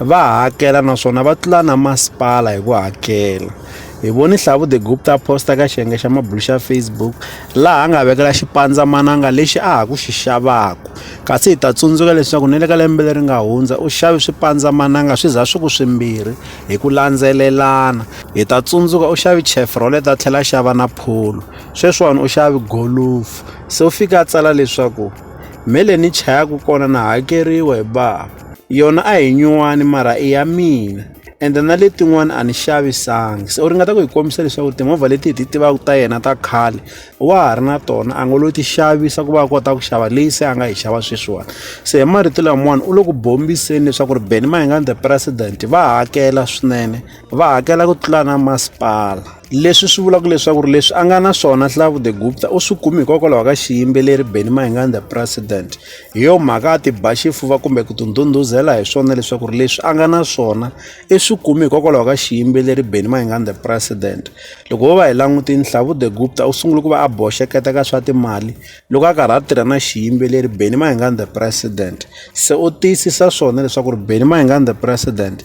va hakela naswona va tlula na masipala hi ku hakela hi voni hlavu the gupta posta ka xiyenge xa mabulu xa facebook laha a nga vekela xipandzamananga lexi a ha ku xi xavaka kasi hi ta tsundzuka leswaku ni le ka lembe leri nga hundza u xavi swipandzamananga swi za swi ku swimbirhi hi ku landzelelana hi ta tsundzuka u xavi chefrolet a tlhela a xava na pholo sweswiwani u xavi golufu se u fika a tsala leswaku mhele ni chayaka kona na hakeriwa hi bava yona a hi nyuwani mara i ya mina ende na letin'wana a ni xavisangi se u ringeta ku hi kombisa leswaku timovha leti hi ti tivaka ta yena ta khale wa ha ri na tona a ngo lo ti xavisa ku va a kota ku xava leyi se a nga yi xava sweswiwani se hi marito lamawani u le ku bombiseni leswaku ri beni mahingani the president va hakela swinene va hakela ku tlula na masipala leswi swi vulaka leswaku ri leswi a nga na swona Hlavu the Gupta u swi kumi hikokwalaho ka xiyimbeleri Benny Mayengani the president hi yo mhaka a ti ba xifuva kumbe ku tundunduzela hi swona leswaku ri leswi a nga na swona i swi kumi hikokwalaho ka xiyimbeleri Benny Mayengani the president loko ho va hi langutini Hlavu the Gupta u sungule ku va a boxeketa ka swa timali loko a karhi a tirha na xiyimbeleri Benny Mayengani the president se u tiyisisa swona leswaku ri Benny Mayengani the president